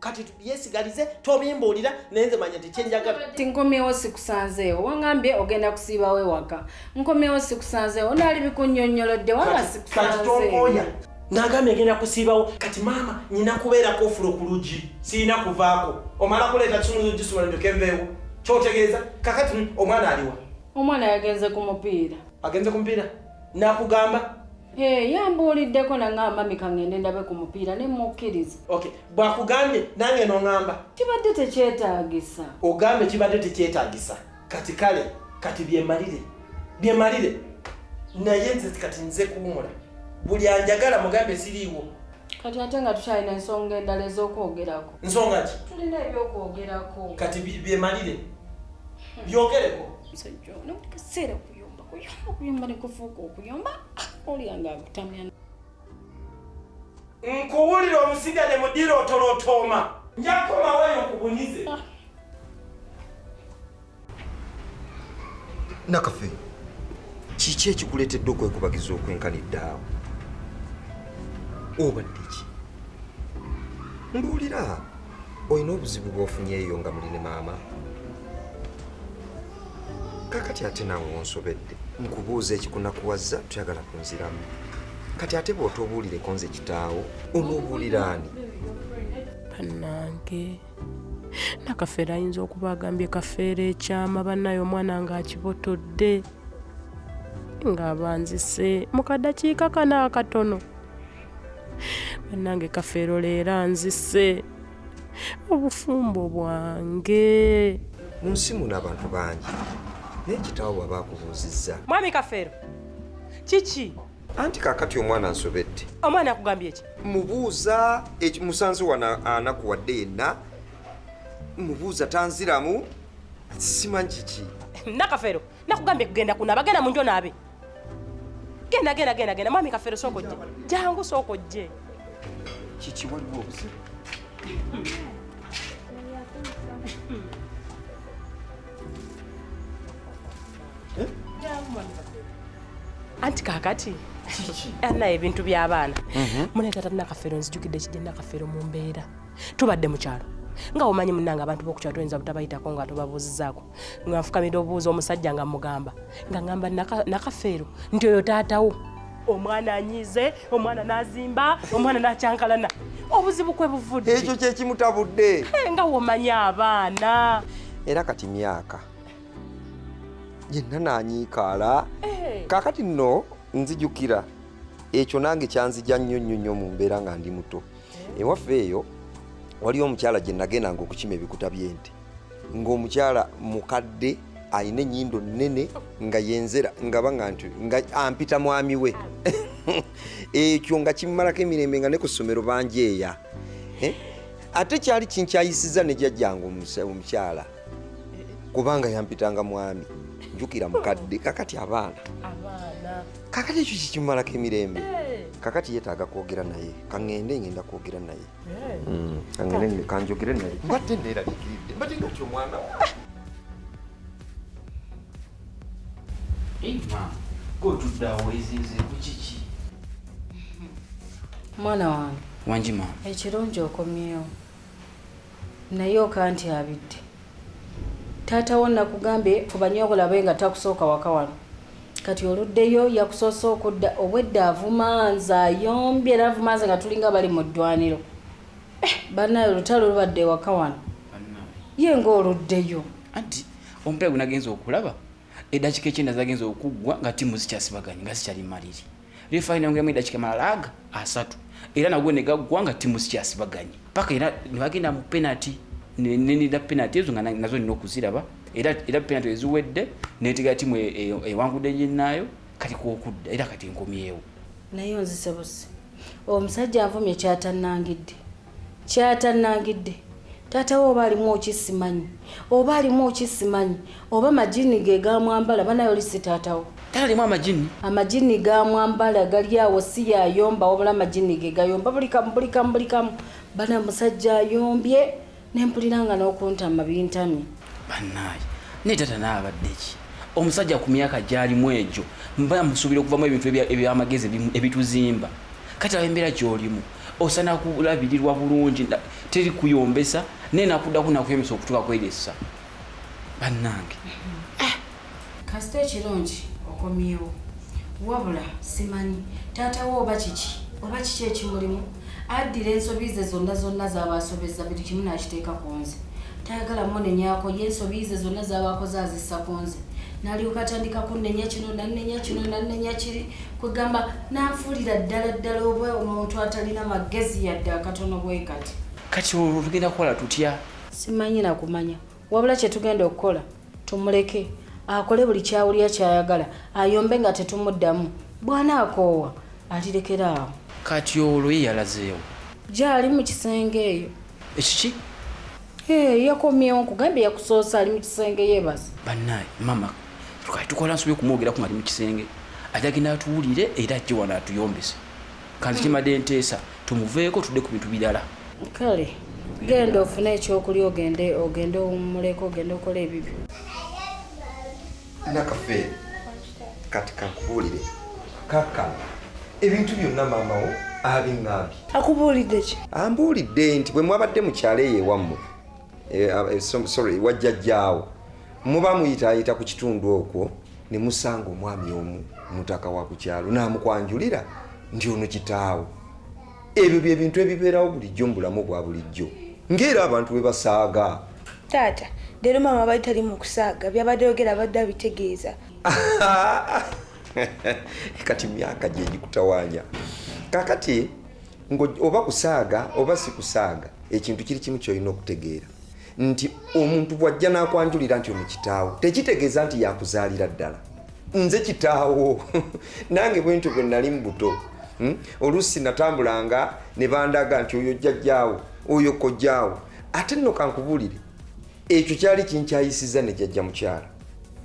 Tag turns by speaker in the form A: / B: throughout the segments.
A: kati yesigalize tobimbuulira naye nze manya tekyenjagala ti nkomyewo
B: sikusanzeewo wangambye ogenda kusiibawo ewaka nkomyewo sikusanzeewo naali bikunyonyolodde waba sikusanzeewoya nagambye
A: ngenda kusiibawo kati maama nyina kubeerako ofula okulugi siyina kuvaako omala kuleeta kimugisula ndokenveewo kyotegeeza kakati omwana aliwa omwana yagenze
B: ku mupiira agenze ku mupiira
A: nakugamba eh,
B: yambuuliddeko naŋamba mika ngende ndabe ku mupiira ne mukkiriza ok bwakugambye
A: nange noŋamba kibadde
B: tekyetaagisa ogambye kibadde
A: tekyetaagisa kati kale kati byemalire byemalire naye nze kati nze kuwumula buli anjagala mugambe siriiwo kati ate nga
B: tukyalina ensonga endala ez'okwogerako nsonga ki tulina
A: ebyokwogerako
B: kati byemalire
A: byogereko musajja ono
B: buli kaseera kuyomba kuyomba kuyomba nekufuuka okuyomba olya nga akutamya
A: nkuwulira omusiga ne mudira otolotooma njakukomawayo nkubunize
C: ah. nakafe kiki ekikuleetedde okwekubagiza okwenkanidde awo obadde ki mbuulira olina obuzibu bwofunyeeyo nga muli ne maama kakati ate nawe onsobedde nkubuuza ekikunakuwazza tuyagala kunziramu kati ate bw'otobuulireko nze kitaawo onobuulira ani bannange
D: nakafeero ayinza okuba agambye kafeero ekyama bannaye omwana ng'akibotodde ng'abanzise mu kadakiika kano akatono bannange kafeero leero anzise obufumbo bwange mu nsi
C: muno abantu bangi naye kitawo bwaba akubuuzizza mwami kafeero
D: kiki anti kakati
C: omwana nsobedde omwana akugambye eki
D: mubuuza
C: musanze wano anakuwadde yenna mubuuza tanziramu simanyi kiki nakafeero
D: nakugambye kugenda kunaba genda munjo naabe genda genda genda genda mami kafere soko je jangu soko je chichi
C: wali wobuze
D: eh? anti kakati anaye ebintu byabaana mhm. munetata nakafero nzijukidde kijja nakafero mu mbeera tubadde mu kyalo nga omanyi munange abantu bokukyalo toyinza butabayitako nga tobabuuzizaako nga nfukamira obuuza omusajja nga mugamba nga ngamba nakafeero nti oyo taatawo omwana anyize omwana nazimba omwana nakyankalana obuzibu kwe buvudde ekyo kyekimutabudde
C: nga womanya
D: abaana era kati
C: myaka yenna nanyiikaala eh. kakati nno nzijukira ekyo nange kyanzija nnyo nnyo nnyo mu mbeera nga ndi muto ewaffe eyo waliyo omukyala gye nagendanga okukima ebikuta by'ente ng'omukyala mukadde alina enyindo nene nga yenzera ngaba nga nti nga ampita mwami we ekyo nga kimumalako emirembe nga ne ku ssomero banjeeya eh? ate kyali kinkyayisiza ne jajjange omukyala kubanga yampitanga mwami njukira mukadde kakati abaana kakati ekyo kikimumalako emirembe eh. kakati yetaaga kwogera naye kaŋŋende ngenda kwogera naye eh. mm, kaŋŋende kanjogere naye mbadde neeraliikiridde mbadde ngati omwana
B: mwana wange wangi ma
E: ekirungi okomyewo
B: naye okantyabidde taata wo nakugambye fubanye okulabe nga takusooka waka wano kati oluddeyo yakusoose okudda obwedda avuma nze ayombye era avuma nze nga tulinga bali mu ddwaniro eh, banaye olutalo lubadde ewaka wano ye nga oluddeyo anti
F: omupiira gunagenza okulaba edakika ekyenda zagenza okuggwa nga tiimu zikyasibaganye nga zikyali maliri refine yongeramu edakika malala aga asatu era nagwo ne gaggwa nga ttiimu zikyasibaganye paka era ne bagenda mu penalty nenida penalty ezo nga nazo nina okuziraba era era penalty eziwedde netegera ttiimu e, e, ewangudde nginnaayo kati kwokudda era kati nkomyewo naye
B: onzisebuse omusajja avumye kyatannangidde kyatannangidde taata we oba alimu okisimanyi oba alimu okisimanyi oba majini ge gamwambala banaye oli si taatawo talimu amajini
F: amajini
B: gamwambala gali awo si yayomba wabula amajini ge gayomba buli kamu buli kamu buli kamu bana musajja ayombye nempulira nga n'okuntama bintamye banaye
F: naye taata naye abadde ki omusajja ku myaka gyalimu egyo mba musuubira okuvamu ebintu ebyamagezi ebituzimba kati awo embeera gyolimu osana kulabirirwa bulungi teri kuyombesa naye nakuddako nakuyomesa okutuka kweresa bannange ah!
B: kasita ekirungi okomyewo wabula simanyi taata wo oba kiki oba kiki ekimulimu addira ensobi ze zonna zonna zaba asobeza buli kimu nakiteeka ku nze tayagala munenyako ye ensobi ze zonna zaba akoze azissa ku nze nalyoka atandika kunenya kino nanenya kino nanenya kiri kwegamba nanfuulira ddala ddala oba omuntu atalina magezi yadde akatono bwe kati kati olwo
F: tugenda kukola tutya simanyi nakumanya
B: wabula kyetugenda okukola tumuleke akole buli kyawulira kyayagala ayombe nga tetumuddamu bwana akoowa alirekera awo kati olwo ye
F: yalazeewo gyali mu
B: kisenge eyo ekiki yakomyewo nkugambye yakusoosa ali mu kisenge yebaza bannaye mama
F: tukali tukola nsobola okumwogerako nga ali mu kisenge ajagenda atuwulire era ajje wano atuyombese kanzi kimadde nteesa tumuveeko tudde ku bintu birala kale
B: genda ofune ekyokulya ogende ogende owummuleko ogende okola ebibyo
C: nakafe kati kankubuulire kaka ebintu byonna maamawo abiŋambye akubuulidde ki
G: ambuulidde nti bwe
C: mwabadde mukyalo eyo ewammwe eh, ah, eh, sorry wajjajjaawo muba muyitaayita ku kitundu okwo ne musanga omwami omu mutaka wa ku kyalo naamukwanjulira nti ono kitaawo ebyo bye bintu ebibeerawo bulijjo mu bulamu bwa bulijjo ng'era abantu bwe basaaga taata
G: leero maama abali tali mu kusaaga byabadde yogera abadde abitegeeza
C: kati myaka gye gikutawaanya kakati oba kusaaga oba si kusaaga ekintu kiri kimu kyolina okutegeera nti omuntu bw'ajja n'akwanjulira nti ono kitaawo tekitegeeza nti yakuzaalira ddala nze kitaawo nange bwentyo bwe nali mu buto hmm? oluusi natambulanga ne bandaga nti oyo jjajjaawo oyo kojjaawo ate nno kankubuulire ekyo kyali kinkyayisiza ne jjajja mukyala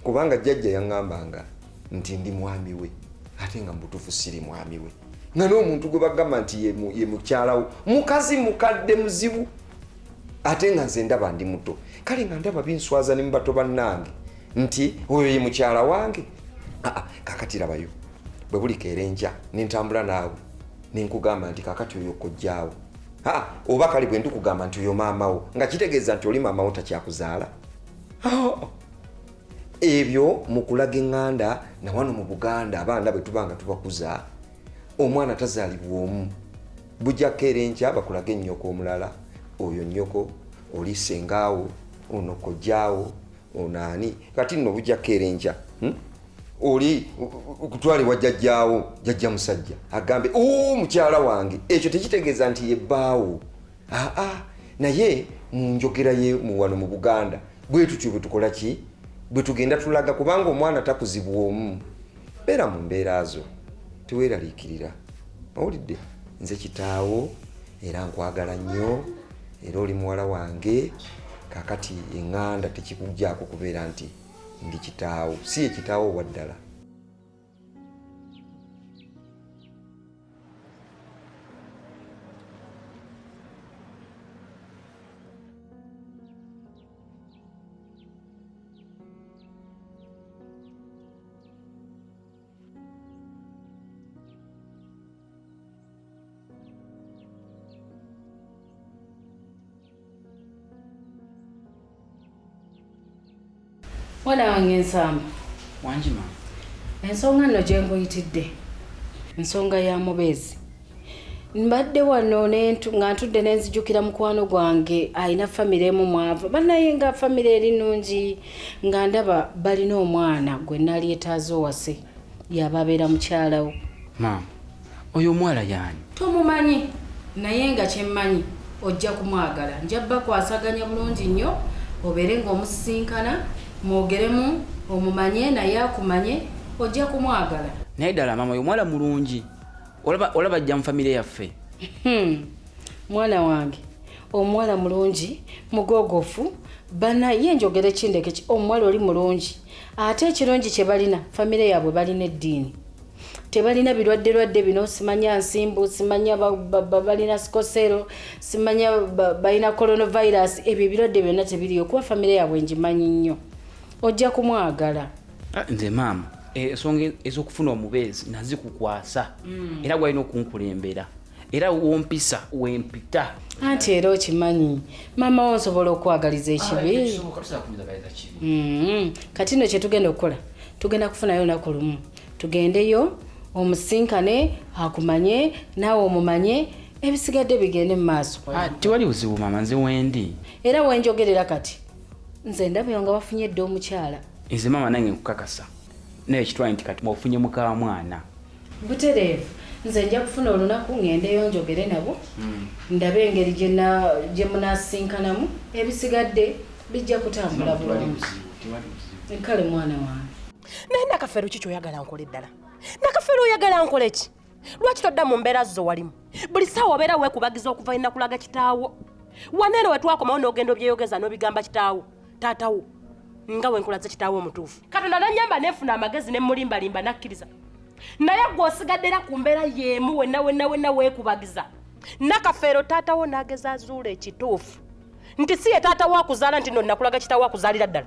C: kubanga jjajja yaŋŋambanga nti ndi mwami we ate nga mubutuufu siri mwami we nga n'omuntu gwe bagamba nti ye mukyalawo mukazi mukadde muzibu ate nga nze ndaba ndi muto kale nga ndaba binswaza ne mubato bannange nti oyo ye mukyala wange aa kakati labayo bwe buli keera enkya ne ntambula naawe ne nkugamba nti kakati oyo kojjaawo aa oba kale bwe ndikugamba nti oyo maamawo nga kitegeeza nti oli maamawo takyakuzaala ebyo mu kulaga eŋŋanda na wano mu buganda abaana bwe tuba nga tubakuza omwana tazaalibwa omu bujja kukeera enkya bakulage nnyoko omulala oyo nnyoko oli sengaawo ono kojjaawo ono ani kati nno bujja kukeera enkya hmm? oli kutwalibwa jjajjaawo jajja musajja agambe o mukyala wange ekyo tekitegeeza nti yebbaawo aa naye mu njogera ye muwano mu buganda bwe tutyo bwe tukola ki bwe tugenda tulaga kubanga omwana takuzibwa omu beera mu mbeera zo teweeraliikirira owulidde nze kitaawo era nkwagala nnyo era oli muwala wange kakati eŋŋanda tekikuggyako kubeera nti ndi kitaawo si ye kitaawo owa ddala
B: mwana wange nsamba wangi mama
F: ensonga nno
B: gye nkuyitidde nsonga ya mubeezi mbadde wano nga ntudde nenzijukira mukwano gwange alina famire emu mwava banaye nga famire eri nungi nga ndaba balina omwana gwe nali etaaza owase yaba abeera mukyalawo maama
F: oyo omwala yani tomumanyi
B: naye nga kyemmanyi ojja kumwagala njabba kwasaganya bulungi nnyo obeere ngaomusisinkana mwogeremu omumanye naye akumanye ojja kumwagala naye ddala maama oyo
F: omwala mulungi olaba olaba ajja mu famire yaffe hmm.
B: mwana wange omuwala mulungi mugogofu bana ye njogere kindeke ki omuwala oli mulungi ate ekirungi kye balina famire yaabwe balina eddiini tebalina birwadde lwadde bino simanya nsimbu simanya balina sikosero simanya balina coronavirus ebyo ebirwadde byonna tebiriyo kuba famire yaabwe ngimanyi nnyo ojja kumwagala Ah, nze maama
F: eh, ensonga ez'okufuna omubeezi nazikukwasa mm. era gwalina okunkulembera era wompisa wempita anti era
B: okimanyi maama wo nsobola okwagaliza ekibi ah, mm-hmm. kati no kyetugenda okukola tugenda kufunayo olunaku lumu tugendeyo omusinkane akumanye naawe omumanye ebisigadde bigende mu maaso ah, tewali buzibu maama
F: nze wendi era wenjogerera
B: kati nze ndabyo nga wafunye dda omukyala nze maama nange
F: nkukakasa naye kitwaye nti kati ofunye muka mwana butereevu
B: nze nja kufuna olunaku ngendeyo njogere nabo hmm. ndabe engeri gye munasinkanamu ebisigadde bijja kutambula bulungi kale mwana wange naye nakafeero
D: ki kyoyagala nkole ddala nakafeero oyagala nkole ki lwaki todda mu mbeera zo walimu buli saawa obeera weekubagiza okuva enakulaga kitaawo waneeno wetwakomawo n'ogenda obyeyogeza n'obigamba kitaawo taatawo nga wenkulaze kitaawo omutuufu katonda nanyamba nefuna amagezi nemulimbalimba nakkiriza naye gwe osigaddera ku mbeera yeemu wenna wenna wenna weekubagiza nakafeero taatawo nageza azuula ekituufu nti si ye taatawo akuzaala nti no nakulaga kitaawo akuzaalira ddala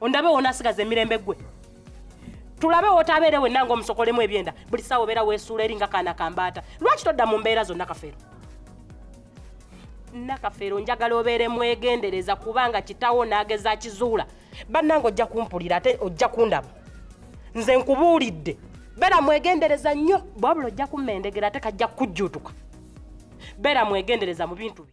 D: ondabe wonasigaza emirembe gwe tulabe wotabeere wenna nga omusokolemu ebyenda buli saawa obeera weesuula eri nga kaana kambaata lwaki todda mu mbeera zonna kafeero nakafeero njagala obeere mwegendereza kubanga kitawo n'ageza akizuula bannanga ojja kumpulira ate ojja kundaba nze nkubuulidde beera mwegendereza nnyo bwabula ojja kummendegera ate kajja kukujjuutuka beera mwegendereza mu bintu bye